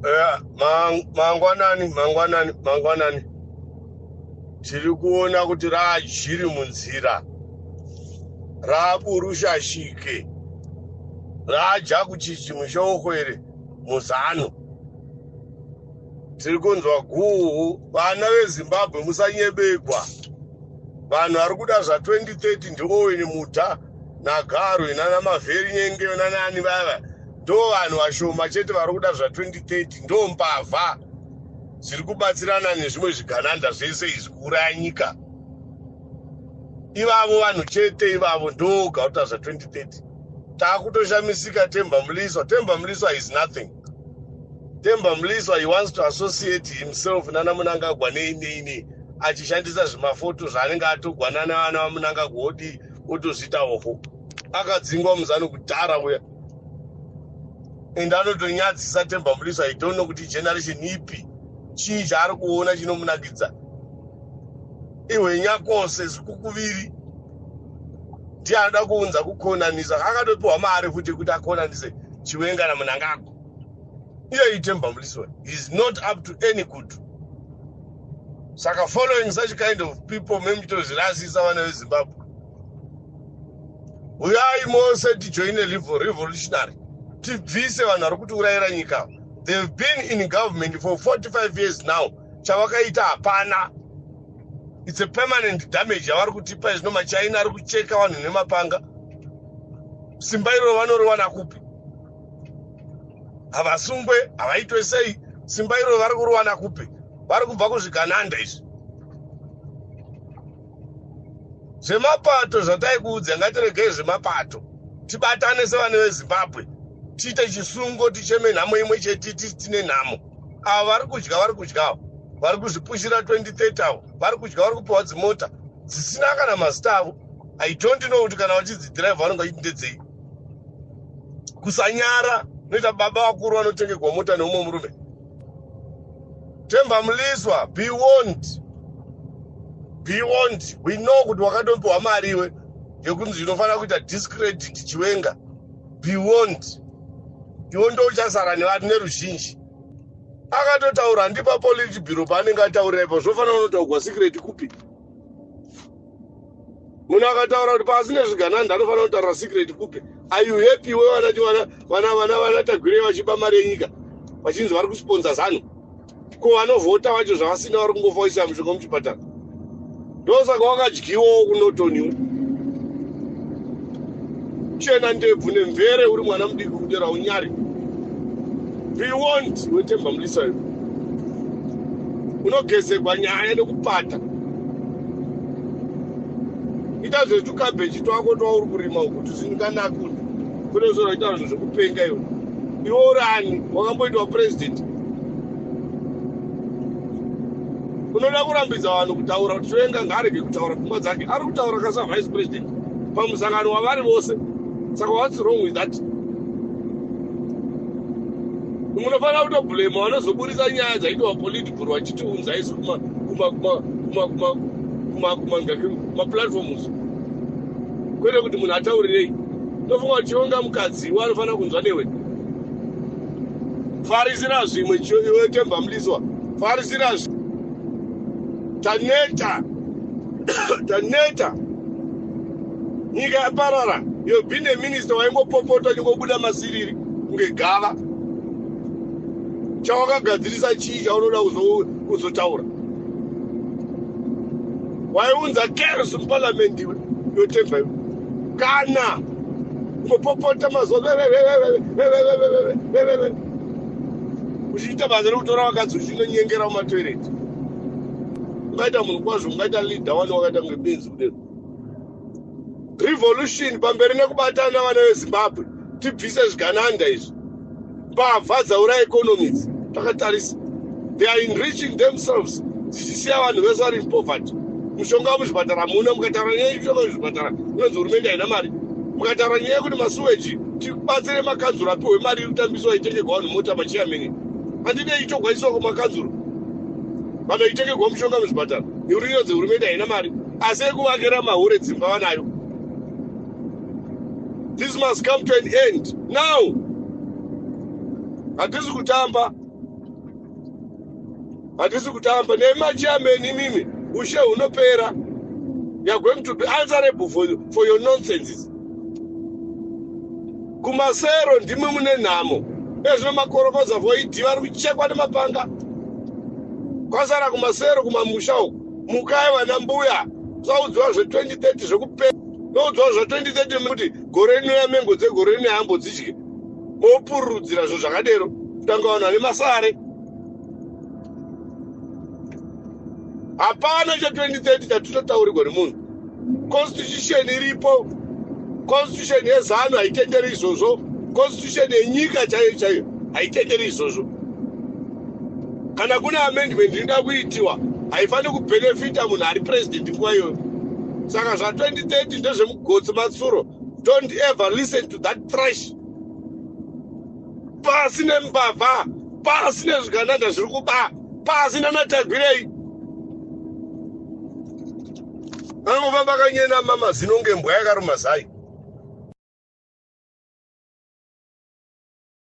Yeah, mang- mangwanani mangwanani mangwanani tiri kuona kuti raajiri munzira raaburushashike raaja kuchichi mushoko iri muzano tiri kunzwa guhu vana vezimbabwe musanyebegwa vanhu vari kuda zva 2030 ndioweni muta nagaro inana mavheri nyenge nanaani vaya vaya ndo vanhu vashoma chete vari kuda zva 2030 ndo mbavha zviri kubatsirana nezvimwe zvigananda zvese izvi kuuraya nyika ivavo vanhu chete ivavo ndo gauta zva 2030 taakutoshamisika temba muliswa temba muliswa is nothing temba muliswa he wants to associate himself nana munangagwa nei nei nei achishandisa zvimafoto zvaanenge atogwanana vana vamunangagwa odi otozviita hofo akadzingwa muzano kudhara uya and anotonyadzisa temba muriso i don't know kuti generation ipi chii chaari kuona chinomunakidza ihwenya kose zvikukuviri ndiye anoda kuunza kukonanisa akatopiwa mari futi yekuti akonanise chiwenga namunangagwa iye itemba muliswa is not up to any good saka following such kind of people memuchitozvirasisa vana vezimbabwe uyai mose tijoine revolutionary tibvise vanhu vari kuti urayira nyika they've been in government for 45 years now chavakaita hapana its a permanent damage yavari kutipa izvino machina ari kucheka vanhu nemapanga simba iroro vanoriwana kupi havasungwe havaitwe sei simba iroro vari kuriwana kupi vari kubva kuzvigananda izvi zvemapato zvataikuudza ngatiregei zvemapato tibatane sevana vezimbabwe tiite chisungo ticheme nhamo imwe chete tisi tine nhamo ava vari kudya vari kudyawo vari kuzvipushira 2030 avo vari kudya vari kupiwa dzimota dzisina kana mazita avo i don't know kuti kana vachidzidhiraivha vanenge vachiti ndedzei kusanyara noita baba vakuru vanotengerwa mota neumwe murume Temba Mliswa, be warned. Be warned. We know kuti wakatompiwa mari iwe yekunzi inofanira kuita discredit chiwenga. Be warned. Iwo ndouchasara nevanhu neruzhinji. Akatotaura ndipa politi biro paanenge ataura ipo zvofanira unotaugwa secret kupi. munhu akataura kuti pasi nezvigananda anofanira kutaura secret kupe are you happy we vanati vana vana vana vana tagwirei vachiba mari yenyika vachinzi vari kusponsa zanu ko vanovhota vacho zvavasina vari kungofoisa mushonga muchipatara ndosaka wakadyiwawo kunotoniwo chena ndebvu nemvere uri mwana mudiki kudera unyari bewont wetemba mulisa yo unogezegwa nyaya nekupata ita zvetukabeji twako twauri kurima uku tusindikanakuni kune zora ita zvinhu zvekupenga iwe iwe uri ani wakamboitwa purezidenti unoda kurambidza vanhu kutaura kuti toenga ngaarege kutaura pfungwa dzake ari kutaura kasa vice president pamusangano wavari vose saka whats wrong with that munofanira kutoblema vanozoburitsa nyaya dzaitwa politi kuvhurwa achiti unzai isu kumaplatforms kwete kuti munhu ataurirei ndofunga uchionga mukadzi iwe anofanira kunzwa newe farisira zvimwe iwe temba muliswa farisira zvimwe taneta taneta nyika yaparara you've been a minister waingopopota nyingobuda masiriri kunge gava chawakagadzirisa chii chaunoda kuzotaura waiunza cares muparliament iwe yotemba iwe kana kupopota mazuva uchiita basa rekutora vakadzi uchinonyengera mumatoireti ungaita munhu kwazvo ungaita leader wani wakaita kunge benzi kudero revolution pamberi nekubatana vana vezimbabwe tibvise zvigananda izvi mbavha dzaura economics takatarisa they are enriching themselves dzichisiya vanhu vese vari poverty mushonga wemuzvipatara muna mukataura nyaya yekushonga wemuzvipatara inonzi hurumende haina mari mukataura nyaya yekuti masuweji tibatsire makanzuro apiwe mari iri kutambiswa itengegwa vanhu mota machiyamini handide itogwaiswa kwemakanzuro vanoitengegwa mushonga wemuzvipatara neuri inonzi hurumende haina mari asi ekuvakira mahure dzimba vanayo this must come to an end now hatisi kutamba hatisi kutamba nemachairman imimi ushe hunopera you're going to be answerable for, for your nonsenses kumasero ndimwe mune nhamo ezvino makorokoza voidi vari kuchekwa nemapanga kwasara kumasero kumamusha uku mukai vana mbuya tisaudziwa zve 2030 zvekupera noudziwa zva 2030 kuti gore rino yamengo dzegore rino yambo dzidye mopururudzira zvinhu zvakadero kutanga vanhu vane masare hapana cha 2030 chatitotaurigwa nemunhu constitution iripo constitution yezanu haitenderi izvozvo constitution yenyika chaiyo chaiyo haitenderi izvozvo kana kune amendment inoda kuitiwa haifaniri kubenefita munhu ari president nguva iyoyo saka zva 2030 ndezvemugotsi matsuro don't ever listen to that trash pasi nembavha pasi nezvigananda zviri kuba pasi nanatagwirei Anofamba kanyena mama zino ngembwa yakaruma zai.